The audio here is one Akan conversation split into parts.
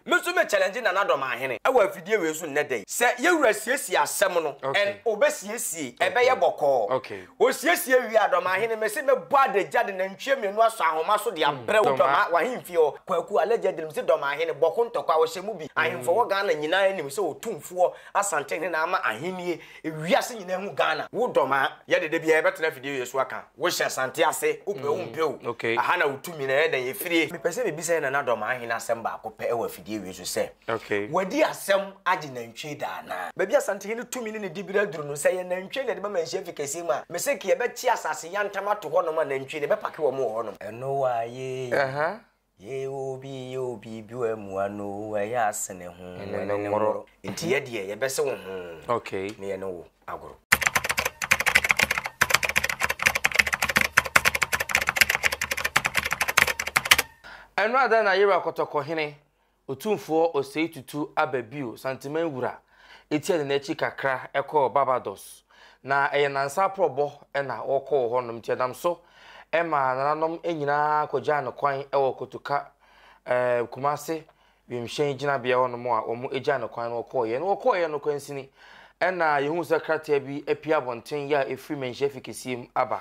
Me nso me challenge Nana Dɔmahene wɔ afidie wei so nnɛ da yi. Sɛ yɛwura siesie asɛm no ɛn ɔbɛsiesie ɛbɛyɛ bɔkɔɔ. Ɔsiesie wie a Dɔmahene mese mɛbɔ adagya de nantwie mmienu asɔ ahoma so de abrɛ wo Dɔma w'ahemfie hɔ. Kwaku allegedly mese Dɔmahene bɔko ntɔkwa ɔhyɛ mu bi. Ahemfo wɔ Ghana nyinaa nim sɛ ɔtumfoɔ Asantehene na ama ahennie Ewiase nyinaa hu Ghana. Wo dɔ maa yɛ dede biaa yɛbɛtena afidie wei so aka wo hyɛ Asante ase wo pɛ wo mpɛ o aha na wo tumi na yɛ dɛn yɛ firie. Mepɛ sɛ me bisa yɛ Nana Dɔ maa hene asɛm baako pɛ wɔ afidie wei so sɛ wadi asɛm agye nantwie da anaa? Baabi Asante hene tumi ne ne dibere aduru no sɛ yɛ nantwie na yɛde bɛma nhyia fi kɛseɛ mu a me seke yɛbɛkye asase yantam ato hɔ nom a nantwie no yɛbɛpake wɔn wɔ hɔ nom. Ɛno waa yee. Yee oo bi yee oo bi bi wɔ amua no oo ɛyɛ asene ho ɛne ne nworo. Nti yɛ deɛ yɛ bɛse wo ho ne yɛ ne wo agoro. Ɛno ada na yera kɔtɔkɔ hene Otumfoɔ Osei Tutu aba bio Santeman Wura tia ne n'akyi kakra kɔɔ Barbados na ɛyɛ nansa aprɔbɔ na ɔkɔ wɔ hɔnom nti ɛnam so ma nananom nyinaa kɔgyaa no kwan wɔ Kotoka eh, Kumase wimhyɛn gyinabea hɔnom a wɔn gyaa no kwan no wɔkɔɔeɛ na wɔkɔɔeɛ no kwansini ɛna yɛhu sɛ krataa bi apue abɔnten yɛ a ɛfiri manhyia fi kɛseɛ mu aba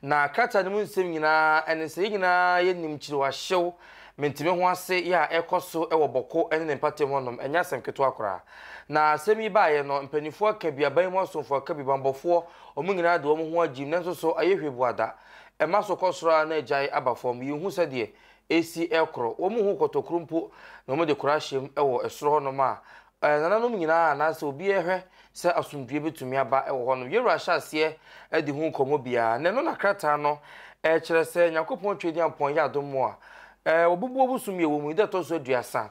na krataa no mu nsɛm nyinaa ɛne sɛ yɛn nyinaa yɛnim kyiriwahyew Mente me ho ase yɛ a ɛrekɔ so wɔ Bɔko ne ne mpɔtam hɔnom, ɛnyɛ asɛm ketewa koraa. Na asɛm yi baeɛ no, mpaninfoɔ aka bi, aban mu asomfoɔ aka bi, bammɔfoɔ, wɔn nyinaa de wɔn ho agyim, nanso so ayɛ hwee Buada? Ɛma so kɔ soro ara na agyae aba fam, yɛnhu sɛdeɛ ɛresi rekoro. Wɔn mu ho kɔtɔkuro mpo na wɔde kora ahyɛm wɔ soro hɔnom a Nananom nyinaa a anaasɛ obi a ɛhwɛ sɛ asomdwoe betumi aba wɔ hɔ no, Yeroa hyɛ aseɛ de hu nkɔmmɔ biara, na ɛno na krataa no kyerɛ sɛ Nyankopɔn Tweaduampɔn yɛ adom a wɔbubu ɔbosom yi a ɛwɔ mu yi da ɛtɔ so aduasa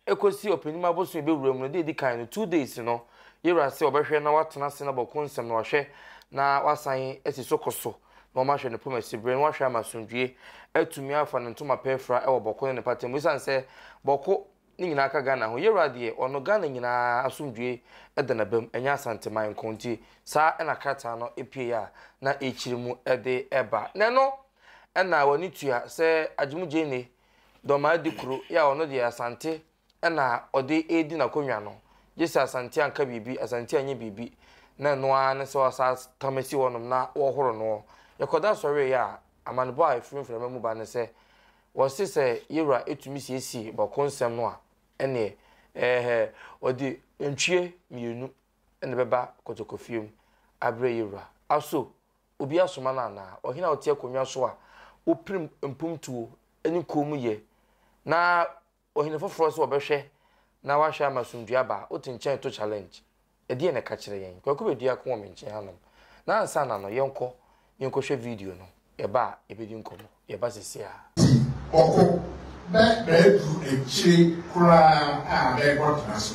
kɔsi ɔpɛnim abosom a ɛbɛwura mu no da a ɛdi kan no, two days no, Yeroa sɛ ɔbɛhwɛ na watena ase na bɔko nsɛm na wahwɛ na wasan asi so kɔ so na wɔahwɛ ne poma siberɛ na wɔahwɛ ama asomdwoe atumi afa ne ntomapɛ afira wɔ bɔko ne ne mpata mu esiane sɛ bɔko Ne nyinaa ka Ghana ho. Yewura deɛ ɔno Ghana nyinaa asomdwoe da n'abam, ɛnyɛ Asanteman nko. Nti saa na krataa no pueeɛ a na ɛrekyiri mu de reba. Na ɛno na w'ani tua sɛ Agyemu Gyene Dormaa di kuro yi a ɔno deɛ Asante na ɔde redi n'akonnwa no. Gye sɛ Asante anka biribi, Asante anyɛ biribi, na ɛno ara ne sɛ wɔasa tam asi hɔnom na wɔrehoro noɔ. Yɛkɔda sɔreeɛ a, amanebɔ a ɛfiri mframa mu ba ne sɛ Wɔse sɛ yewura tumi siesie bɔko nsɛm no a, ɛneɛ, ɛɛhɛ, ɔde nantwie mmienu na ɛbɛba kɔtɔkɔfie mu abrɛ yewura. Aso obi asoma no anaa? Ɔhene a ɔte akonnwa so a wopirim mpomtuo ne koom yɛ na Ohene foforɔ sɛ ɔbɛhwɛ na wahwɛ ama asomdwoeɛ aba a, ɔte nkyɛn to challenge. Ɛdeɛn na ɛka kyerɛ yɛn? Kwaku bɛdua ako wɔ me nkyɛn hanom na ansa na no, yɛnkɔ, yɛnkɔhwɛ video no, yɛba a, yɛbɛdi nkɔmmɔ. Yɛba seesei ara. Ti, ɔko, na maaduru akyire koraa a mɛkɔtena so.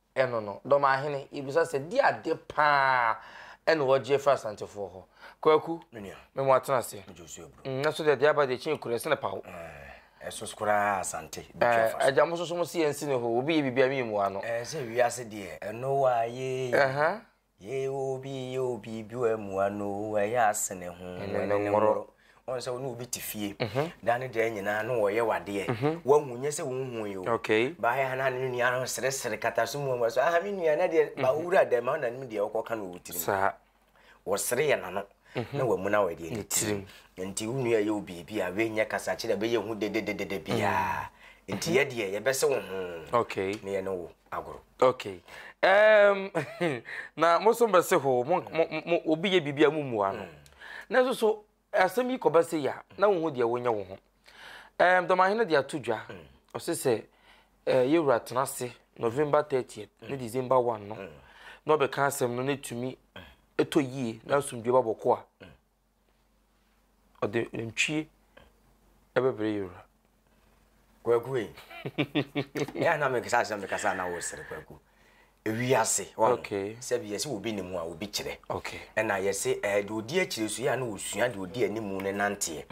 Ɛno no, Dɔmahene, yɛbisa sɛ, di ade pa ara na wɔgye afiri Asantefoɔ hɔ? Kwaku, Me nua. Me mo atena ase. Megye wo so aburo. Mm, nanso deɛ Diaba deɛ kyin kura, ɛsene paw. Ɛɛ, ɛso koraa Asante, bɛtwa fa so. Ɛɛ, agya, mo nso so mo se yɛnsi ne hɔ, obi yɛ biribi a, me yɛ mua no. Ɛɛ, sɛ wiase deɛ, ɛno waa yee. Ɛhã. Ye obi ye obi bi wɔ mu ano ɛyɛ asene ho ɛne ne nworo wɔn sɛ wɔn obi te fie da ne da nyinaa no wɔyɛ wadeɛ wɔn hu nyɛ sɛ wɔn hu yi o baayɛ ha na ne nua no seresere kata so mu wɔn so aha mi nua na deɛ ba wura dɛm ma na ne mu deɛ ɔkɔ ka na ɔwɔ tirim saa wɔsere yɛ n'ano na wɔn mu na wɔyɛ deɛ ne tirim nti wɔn nua yɛ obi bi a wɔnyɛ kasa kyerɛ bɛyɛ hu dedededede biara nti yɛ deɛ yɛbɛsɛ wɔn ho na yɛ ne wo. agoro. Okay. Um, na mo so mbɛse ho mo mo obi yɛ biribi a mo mu ano. Mm. Na nso so asɛm yi kɔba sɛ yia na wo ho deɛ wonyɛ wo ho. Um, dɔmahene de ato dwa mm. ɔse sɛ uh, yɛwura tena ase November 30th mm. ne December 1 no na ɔbɛka asɛm no na ɛtumi ɛtɔ yie na asomdwe ba bɔkɔ a Ɔde ntwie ɛbɛbrɛ yɛ wura. Kwaku yi ɛyɛ anam nkasa asɛm de kasa na wɔsere kwaku ewi ase wɔn sɛbi yɛsi obi ne mu a obi kyerɛ ɛna yɛsi ɛɛ de odi akyire so yɛ ano osua de odi anim ne nanteɛ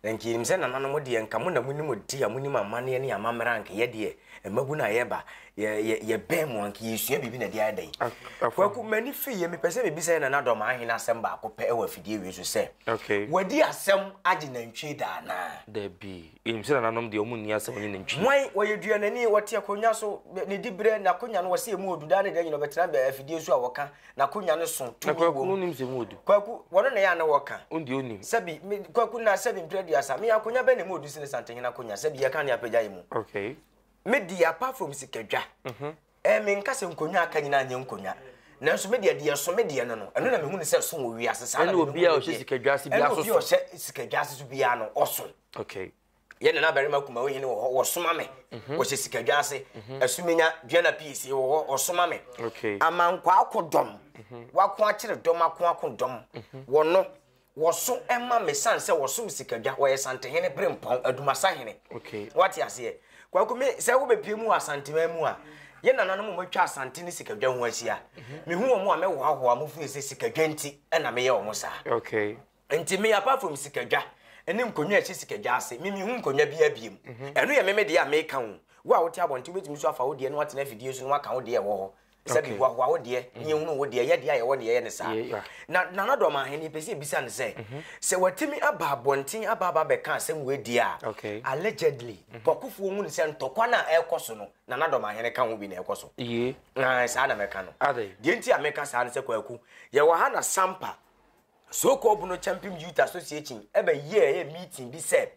na nkirim sɛ nananom deɛ nka mo na mo nim ti a mo nim amaneɛ ne amammerɛ anka yɛ deɛ Mmabun a yɛba, yɛ, yɛ, yɛbɛn mu anka yɛresua biribi na ɛde ayɛ dɛn? Kwaku, m'ani fi yɛ, mepɛ sɛ mebisa yɛ nanadɔm ahene asɛm baako pɛ wɔ afidie wei so sɛ, okay. wadi asɛm agye nantwie da anaa? Dabi. Yɛnim sɛ nananom deɛ wɔn nni asɛm nye nantwie. Hwan, wɔyɛ duanani, wɔte akonnwa so, ne diberɛ, n'akonnwa no wɔsɛ emu ɔdu daa ne da nyina ɔbɛtena afidie so a wɔka N'akonwa no so tumi wom. Na Kwaku no nim sɛ mu odu. Kwaku, wɔn na yɛ a na wɔka. Wɔn deɛ onim. Sɛbi, me, Kwaku na sɛbi mpere aduasa, me akonwa bɛn na mu odu sene Santehene akonwa, sɛbi yɛka ne apagya yi mu. Okay. Me deɛ apart from sikadwa, mhm. ɛɛ me nka sɛ nkonwa aka nyinaa nyɛ nkonwa. nanso me deɛ deɛ ɛso me deɛ no no ɛno na mehu ne sɛ so wɔ wiase saa na mehu ne deɛ ɛne obi a ɔhyɛ sikadwa ase bi aso so ɛne obi a ɔhyɛ sikadwa ase so biara no ɔso. okay. yɛ nana barima kumawo hene wɔ hɔ wɔsoma me mhm. wɔhyɛ sikadwa ase mhm. asumenya duana pii sie wɔ hɔ wɔsoma me amankɔ akodɔm mhm. wako akyere dɔm ako akodɔm wɔno wɔso ma me sane sɛ wɔsom sikadwa wɔyɛ santehene bere mpɔn adumasa hene wate aseɛ kwaku me sɛ wobɛpie mu wɔ asantema mu a yɛ nananom matwa asante ne sikadwa ho ahyia mehu wɔ mu a mɛhoahoa mo firi sɛ sikadwa nti ɛna meyɛ wɔ mo saa Nti me apart from sikadwa ne nkonnwa a ɛhyɛ sikadwa ase me mehu nkonnwa biara biem. Mhm. Ɛno yɛ meme deɛ a meka wo. Wo a wote abɔnten wobɛtumi nso afa wo deɛ na woatena afidie so na woaka wo deɛ ɛwɔ hɔ sɛ mehoahoa wo deɛ ne mhm. ɛhunu wo deɛ yɛ deɛ a yɛwɔ ne yɛyɛ ne saa na nana dɔm ahene yɛpɛ sɛ ɛbisa no sɛ mhm. sɛ watumi aba abɔnten aba aba bɛka asɛm wei deɛ a allegedly bɔkofoɔ hu ne sɛ ntɔkwa no a ɛrekɔ so no nana dɔm ahene ka ho bi na ɛkɔ so saa na mɛka no deɛ nti a meka saa no sɛ kwaku yɛwɔ ha na sampa So kɔɔbo no Champim Youth Association ɛbɛ yɛɛ meeting bi sɛ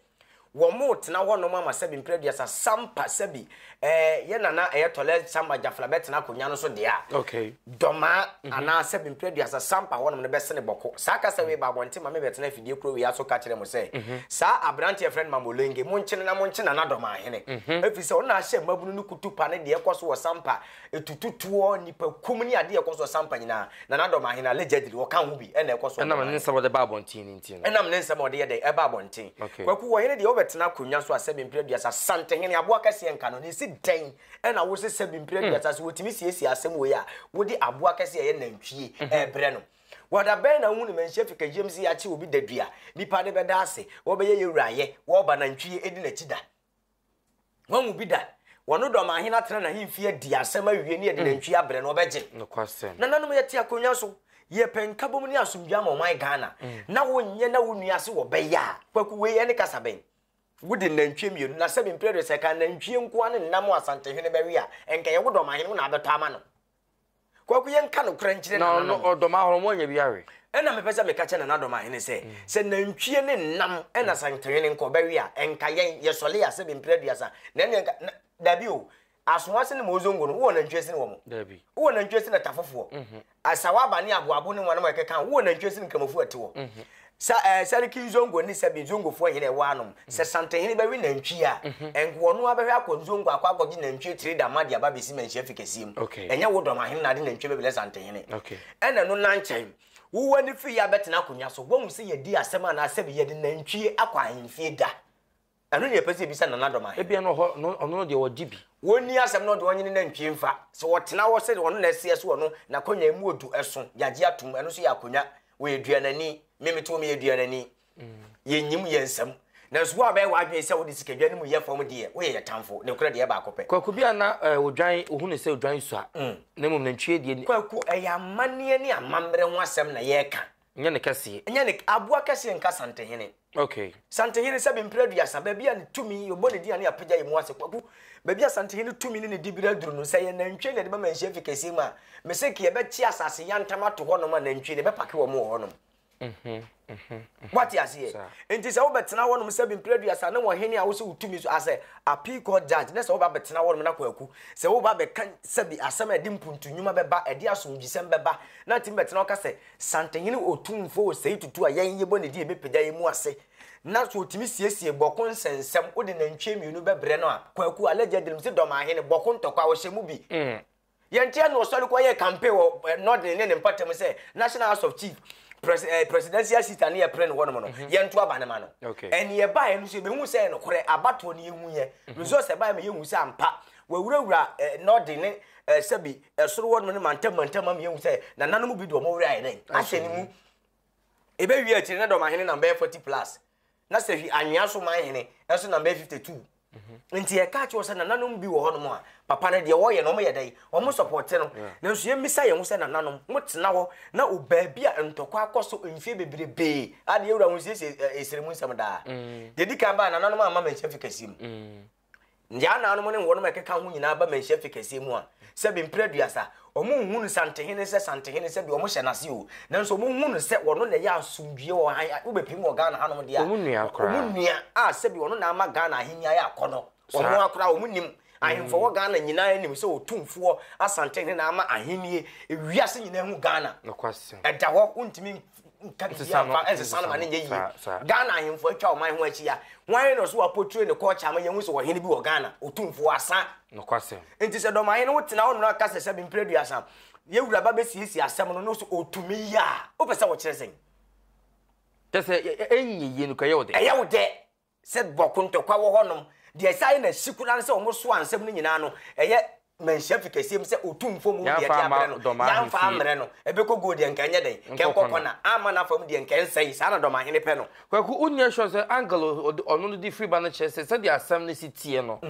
wɔmoo tena hɔ nom ama sɛbi mprɛ aduasa sampa sɛbi ɛɛ yɛ nana ɛyɛ tɔlɛ sampa gyafla bɛ tena akonya no so dea okay. dɔmaa mm -hmm. anaa sɛbi mprɛ aduasa sampa hɔ nom no bɛ sene bɔko saa kasa wei ba abɔnten ma me bɛ tena afidie kuro wei aso ka kyerɛ mo sɛ mm -hmm. saa aberante yɛ frɛn mamolenge mo nkyene na mo nkyena na dɔmaa hene mm -hmm. ɛfiri sɛ ɔna ahyɛ mmabunu no kutu pa ne deɛ ɛkɔ so wɔ sampa Etutu toɔ, nnipakum ne adeɛ a ɛkɔ so sampa nyinaa, na n'adɔm ahen, allegedly, ɔka ho bi na ɛkɔ so. Ɛnam ne nsɛm a ɔde ba abɔnten no nti no. Ɛnam ne nsɛm a ɔde yɛ dɛn? Ɛba abɔnten. Okay. Kwaku, ɔhene deɛ ɔbɛtena akonnwa so asɛbi mprɛ aduasa, Asantehene, aboa kɛseɛ nka no, na ɛsi dɛn na wose sɛbi mprɛ aduasa, sɛ wɔtumi siesie asɛm wei a, wode aboa kɛseɛ a ɛyɛ nantwie ɛrebrɛ no? Wɔ da bɛn na wohu no manhyia fi kagyam se yɛakye obi da dua, nnipa de bɛda ase, wɔbɛyɛ yɛwura ayɛ, wɔba nantwie ɛdi n'akyi da? wɔn mu bi da wɔn dɔ ma ahene atena n'ahemfi adi asɛm awie ne yɛde mm. nantwi abrɛ no ɔbɛgye nananom yɛte akonnwa so yɛpɛ nkabom ne asomdwe ama ɔman ghana mm. na wonyɛ na wo nua ase wɔbɛyɛ a kwaku wei ɛne kasa bɛn wode nantwie mmienu na sɛ mempere de sɛ ka nantwie nkoa ne nnam asantehene bɛwe a ɛnka yɛwo dɔmahene wo na abɛtɔ ama no Kwaku yɛn ka nokorɛ nkyerɛ nananom. Na ɔno ɔdɔm ahorow mo ɔnyɛ bi awe. Ɛna mepɛ sɛ meka kyɛ nananom ahene sɛ mm. sɛ nantwie ne nam ɛna mm. santewene nka ɔbɛwe a ɛnka yɛn yɛsɔle a sɛ bɛmpira aduasa na ɛne ɛnka dabi o asoa sene ma ozongo no wowɔ nantwie sene wɔ mo dabi wowɔ nantwie sene tafofoɔ mhm. asawa aba ne aboabo ne wɔn a ɛkeka wowɔ nantwie sene nkramofoɔ ɛte wɔ mhm. Sa eh, Sariki Nzongo ne Sabi Nzongofoɔ hene ɛwɔ anom. Sɛ Santenhene bɛwe nantwie a, ɛnke ɔno ara bɛhwɛ akɔ Nzongo akɔ akɔgye nantwie tire da ma de aba abɛsi manhyia fi kɛseɛ mu. Ɛnyɛ wo dɔmahene na ade nantwie bɛbrɛ Santenhene. Ɛna ɛno nankyɛn, wowo ani firi yɛ abɛtena akonnwa so, woahu sɛ yɛadi asɛm anaa sɛbe yɛde nantwie akɔ ahemfie da? Ɛno na yɛpɛ sɛ yɛbisa Nana Dɔm Ahene. Ebia na ɔhɔ no, ɔno no deɛ ɔgye bi. Wɔnni asɛm na ɔde ɔnye ne nantwie mfa. Sɛ ɔtena hɔ sɛ ɔno na ɛseɛ so ɔno, n'akonnwa emu odu ɛso, yɛagye atom, ɛno nso yɛ akonnwa. Ɔyɛ aduanani. Me mete hɔ meyɛ aduanani. Yɛnnyim yɛn nsam. Nanso wo a wobɛyɛ w'adwene sɛ wode sikadwa no mu yɛ fam deɛ, woyɛ yɛn tamfo. Nokorɛ deɛ, ɛyɛ baako pɛ. Kwaku bi a na odwan, wohu no sɛ odwan sua, na mmom nantwie deɛ. Kwaku, ɛyɛ amanneɛ ne amammerɛ ho asɛm na yɛreka. Nyɛ ne kɛseɛ. Nyɛ ne aboa kɛseɛ nka Santehene. Okay. Santehene sɛbe mpere aduasa, baabi a ne tumi, yɛbɔ ne din a ne yɛapagya yɛn mu ase. Kwaku, baabi a Santehene tumi ne ne dibere aduru no, sɛ ɛyɛ nantwie na yɛde bɛma Nhyiam Fi Kɛseɛ mu a, mese nka yɛbɛkye asase yantam ato hɔnom a nantwie no yɛbɛpake wɔn wɔ hɔnom. Woate aseɛ? Nti sɛ wobɛtena hɔnom sɛbe mpere aduasa ne wɔn hene a wosɛ wo tumi so as a appeal court judge na sɛ woba bɛtena hɔnom na Kwaku, sɛ woba bɛka sɛbe asɛm a ɛde mpuntu nnwuma bɛba, ɛde asomdwisɛm bɛba na atumi bɛtena hɔ ka sɛ, Santehene Otumfoɔ ɔsɛe tutu a yɛn yɛbɔ ne din a ɛbɛpagya yɛn mu ase na so ɔtumi siesie bɔko nsɛnsɛm wode nantwie mmienu bɛbrɛ no a Kwaku Alagye Agyinam se Dɔmahene bɔko ntɔkwa a ɔhyɛ mu bi Yɛnte ano ɔsɔre kɔ yɛɛ campaign wɔ Norden ne ne mpatamu sɛ National House of Chief presidential seat a ne yɛpere no hɔnom no yɛnto aba no ma no ɛne yɛbaeɛ no so yɛbɛhu sɛ ɛyɛ nokorɛ abatoɔ ne yɛhuiɛ results ɛbaeɛ ma yɛhu sɛ ampa Wɔawurawura Nɔɔden ne Sɛbi soro hɔ nom ne mantam mantam ma meahu sɛ nananom bi de wɔn werɛ ayɛ dɛn ahyɛ ne mu. Ɛbɛwie akyiri na dɔm ahene nam bɛyɛ 40 plus, na Sɛhwi anwea so man hene nso nam bɛyɛ 52. Mhm. Nti yɛka kyerɛ sɛ nananom bi wɔ hɔ nom a papa no deɛ wɔyɛ no wɔyɛ dɛn wɔn sɔpɔte no. Mm. Nanso yɛmmisa yɛn ho sɛ nananom motena hɔ na obaabi a ntɔkwa akɔ so mfie beberebee adeɛ wura ho siesie ɛsere mu nsɛm daa. Mm. Deɛ di kan baa nananom amma manhyɛ fi kɛseɛ mu. Mm. Nyanaanom ne wɔnom a ɛkeka ho nyinaa ba manhyia fi kɛseɛ mu a, sɛbe mprɛ aduasa. Wɔnhu no Santehene sɛ Santehene sɛdeɛ wɔhyɛ no ase o, nanso wɔhu no sɛ ɔno na ɛyɛ asomdwie wɔ han a wobɛpirim wɔ Ghana hanom deɛ a, wɔn nua koraa, wɔn nua a sɛbe ɔno na ama Ghana ahennie ayɛ akɔnnɔ, wɔn a koraa wɔn nim. Ahemfo wɔ Ghana nyinaa nim sɛ Otumfoɔ Asantehene na ama ahennie, ewiase nyinaa hu Ghana, ɛda hɔ, wontumi. nka biribi amfa ɛnsesa no ma ne nyɛ yie ghana ahemfo atwa ɔman ho ahyia hwan na ɔso apotire ne kɔɔkye ama yɛhu sɛ ɔhene bi wɔ ghana ɔtumfoɔ asa nokwasɛm nti sɛ dɔmahene wo tena ɔno aka sɛ sɛbe mprɛ duasa yɛwura ba bɛsiesie asɛm no no so ɔtumi yɛ a wopɛ sɛ wɔkyerɛ sɛn kyɛ sɛ ɛnyɛ yie no kɔ ɛyɛ wo dɛ ɛyɛ wo dɛ Sɛ bɔko ntɔkwa wɔ hɔnom, deɛ ɛsan yɛ no asi koraa ne sɛ wɔsoa nsɛm no nyinaa no, ɛyɛ manhyia fi kɛseɛ mu sɛ Otumfoɔ mu deɛ de abrɛ no, yɛamfa ammrɛ no, ɛbɛkɔ guo deɛ nka ɛnyɛ dɛn, nka ɛnkɔ kɔna, amma no afa mu deɛ nka ɛnsɛe, saa na Dɔmahene pɛ no. Kwaku, wonyɛ sure sɛ angle a ɔde ɔno no de firi ba no kyerɛ sɛ sɛdeɛ asɛm no si teɛ no,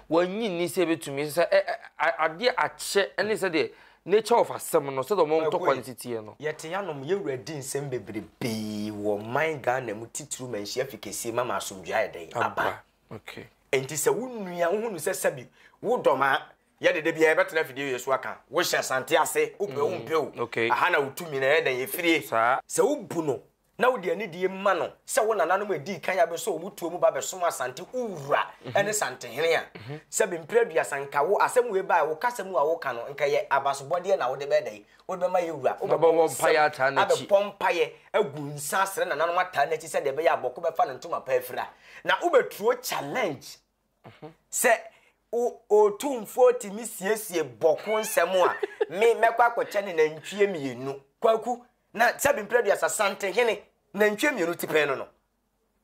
wannye nni sɛ ɛbɛtumi, ɛsɛ sɛ adeɛ akyɛ ne sɛdeɛ Nature of asɛm no sɛdeɛ wɔn ntɔkwa no si teɛ no. Yɛte anom, yɛn wura di nsɛm bebrebe wɔ man Ghana mu titiriw manhyia afi kɛseɛ mu ama asomdwoeɛ ayɛ dɛn? Aba. Okay. Enti sɛ wo nua wohu no sɛ sɛbi wo dɔ ma yɛ dede biara yɛbɛtena afidie wei so aka wohyɛ Asante ase wopɛ wo mpɛ o. Okay. Aha na wo tumi na yɛ dɛn yɛfirie. Saa. Sɛ wo bu no na wode anidie ma no sɛ wo nananom a ɛdii kan abɛsɔ wɔn mu tuo mu ba bɛsom Asante wo wura mhm. ne Santehene a, mhm. sɛ bempere aduasa nka wo asɛm wei bae wo kasa mu a woka no nka yɛ abasobɔdeɛ na wode bɛdɛn wode bɛma yɛ wura wobɛbɔ nsɛm abɛbɔ mpaeɛ agu nsa asrɛ nananom ataa n'akyi sɛdeɛ ɛbɛyɛ abɔko bɛfa no ntoma pa afira na wobɛturo challenge Sɛ o Otumfoɔ tumi siesie bɔko nsɛm a, me, mɛkɔ akɔkyɛ no nantwie mmienu. Kwaku, na sɛbi mprɛduasa sante hene, nantwie mmienu ti pɛn no no.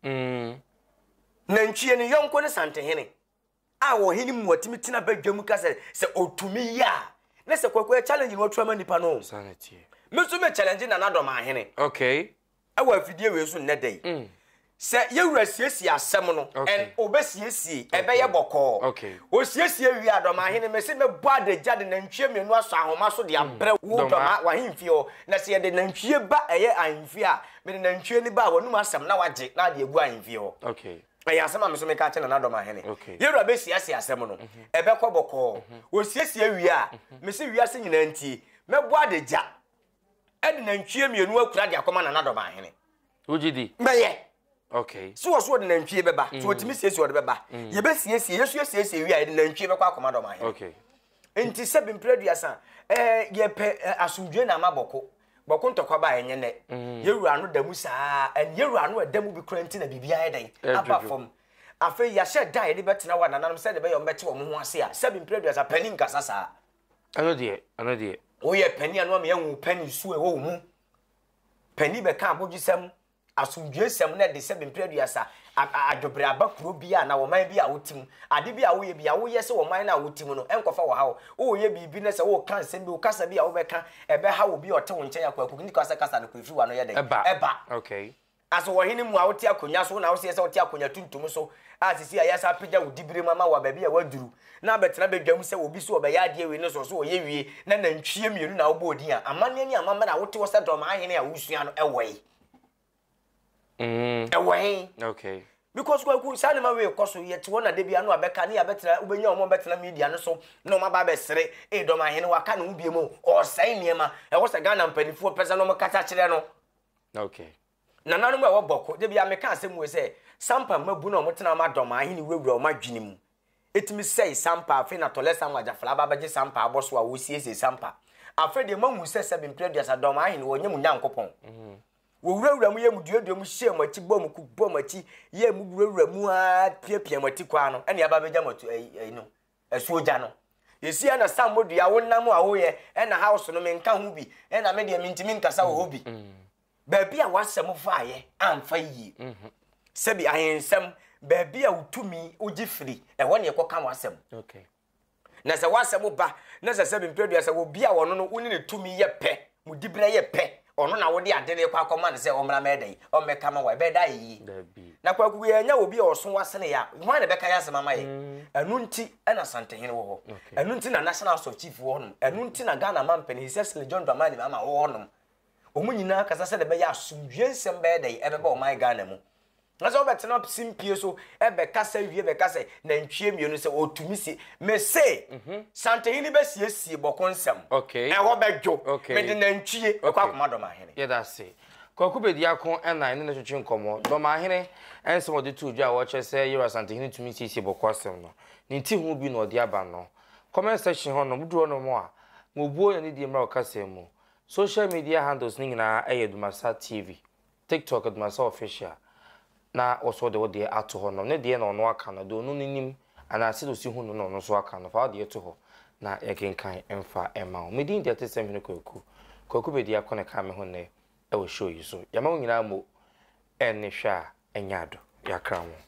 Mm. Nantwie no yɔnko ne sante hene. A ɔhene mu ɔtumi tena badwa mu ka sɛ, sɛ ɔtumi yɛ a, ne sɛ Kwaku challenge no ɔtura ma nipa no. Sanity. Me nso me challenge Nana Dɔm ahene. Okay. wɔ afidie wei so nnɛ da yi. Mm. Sɛ yɛwura siesie asɛm no, ɛn obɛsiesie, ɛbɛyɛ bɔkɔɔ. Osiesie wie a dɔm ahene mese mɛbɔ adagya de nantwie mmienu asɔ ahoma so de mm. abrɛ wo dɔm w'ahemfie hɔ. Na sɛ yɛde nantwie ba ɛyɛ ahemfie a, mede nantwie no ba a wɔnum asɛm na wagye na ade agu ahemfie hɔ. Ɛyɛ asɛm a me so meka akyɛ nana dɔm ahene. Yɛwura bɛsiesie asɛm no, mhm. ɛbɛkɔ bɔkɔɔ. Osiesie mhm. wie a, mhm. mese wiase nyinaa ntie, mɛbɔ adagya ɛde nantwie mmienu akura de akɔma nana dɔm ahene. wogye di. mɛyɛ. okay. so wɔ so ɔde nantwie bɛba so wɔtumi mm. siesie ɔde bɛba mm. yɛbɛsiesie yɛsu yɛsiesie wie a yɛde nantwie bɛkɔ akɔma dɔm ahene. okay. nti sɛ bempere aduasa ɛɛ yɛpɛ asomdwe na ama bɔko bɔko ntɔkwa ba ɛnyɛ nɛ mm. yɛwura ano da mu saa ɛn yɛwura ano ɛda mu bi kura nti na biribi ayɛ dɛn aba fam afei yɛahyɛ da a yɛde bɛtena hɔ a nananom sɛde bɛyɛ ɔmbɛte wɔn ho ase a sɛ bempere aduasa panin nkasa saa Ɛno deɛ, ɛno deɛ. Woyɛ panin a na wama yɛahu wo panin su a ɛwɔ wo mu. Panin bɛka abodwesɛm, asomdwoesɛm na ɛde sɛ bempere aduasa adwobrɛ aba kuro bi a na wɔman bi a wote mu. Ade bi a woyɛ bi a woyɛ sɛ wɔman no a wote mu no nkɔfa wɔ ha o. Woyɛ biribi na sɛ woka nsɛm bi, wo kasa bi a wobɛka ɛbɛha obi a ɔte wo nkyɛn a kwaku nti kasa kasa no kɔ ɛfiri w'ano yɛ dɛn ɛba. Okay. A So wɔ hene mu a wote akonnwa so na woseɛ sɛ wote akonnwa tuntum so a seesei a yɛasan apagya wo diberem ama wo a baabi a woaduru na abɛtena badwam sɛ obi so ɔbɛyɛ adeɛ wei ne so so ɔyɛ wie na nantwie mmienu na wobɔɔ din a amanneɛ ne amammerɛ a wote hɔ sɛ dɔm ahene a wosua no ɛwɔ he? Mm. Ɛwɔ he? Okay. Because kwaku saa nneɛma wei kɔ so yɛte hɔ na da bia no abɛka ne yɛabɛtena wobɛnya wɔn bɛtena media no so na wɔn aba abɛsere ee dɔm ahene waka ne ho bie mu ɔsɛe nneɛma ɛwɔ sɛ Ghana mpanimfoɔ pɛ sɛ na wɔkasa kyerɛ no Okay. Nananom a ɛwɔ Bɔko, da biara meka asɛm wei sɛ, Sampa mmabun a wɔtena wɔn adɔm a ahene wurawura wɔn adwene mu. Ɛtumi sɛe Sampa, afei na Tɔlɛsa Mwagyafla aba abɛgye Sampa abɔ so a wɔresiesie Sampa. Afei deɛ moahu sɛ sɛbe mpere aduasa dɔm ahene wɔnyɛ mo Nyankopɔn. Mm-hmm. Wɔwurawura mo yɛ mo duadua mu hyɛ mo akyi bɔ mo ku bɔ mo akyi yɛ mo wurawura mu ara piapia mo ati kwaa no ɛne aba abɛgya mo atu ɛyi no. Asuo gya no. Yɛsi ɛna sa mo dua wo nam a woyɛ ɛna house no menka ho bi ɛna me deɛ mentimi nkasa wɔ hɔ bi. Mm. Baabi a wasɛm faayɛ amfa yie. Mm-hmm. Sɛbi ahensɛm baabi a wotumi wogye firi ɛhɔ ne ɛkɔka wasɛm. Okay. Na sɛ wasɛm ba na sɛ sɛbi mprɛdua sɛ obi a wɔno no wo ne ne tumi yɛ pɛ. Mo diberɛ yɛ pɛ, ɔno na wode ade no rekɔ akɔma no sɛ ɔmmra mɛyɛ dɛn? ɔmmɛka ma wo a, ɛbɛyɛ dɛ ayɛ yie? Dabi. Na Kwaku yɛ anya obi a ɔso asene yɛ a, hwan na ɛbɛka yɛn asɛm ama yɛn? Mm. Ɛno nti na Asantehene wɔ hɔ. Okay. Ɛno nti na National House of Chief wɔ hɔ nom. Ɛno nti na Ghana Mampanin, His Excellency John Dramani Mahama wɔ hɔ nom. Wɔn nyinaa kasa sɛdeɛ ɛbɛyɛ asomdwie nsɛm bɛyɛ dɛn? Ɛbɛba ɔman Ghana mu. Na sɛ wobɛtena simpie so bɛkasa wie bɛka sɛ nantwie mmienu sɛ ɔtumi sie mese mhm. santehene bɛsiesie bɔko nsɛm ɛhɔ bɛdwo mede nantwie ɛkɔ akoma dɔmahene yɛda se kwaku bɛdi ako ɛna ɛne ne twetwe nkɔmmɔ dɔmahene ɛnsɛm ɔde to dwa a wɔkyerɛ sɛ yɛwura santehene tumi siesie bɔko asɛm no ne ti ho bi na ɔde aba no comment section hɔ no moduru hɔ no mu a mobuo na ne die mmra ɔkasa mu social media handles ne nyinaa ɛyɛ dumasa tv Tiktok dema sɛ official na woso de wo deɛ ato hɔ nom ne deɛ na ɔno aka no deɛ ɔno no nim anaa sɛdeɛ osi hu no na ɔno nso aka no fa wo deɛ to hɔ na yɛkenkan mfa ma wo medin deɛ te sɛm hene kwaku kwaku bɛdi ako ne ka me ho nnɛ ɛwɔ show yi so yɛma wo nyinaa mo ɛne hwɛ a ɛnyɛ ado yɛakra ho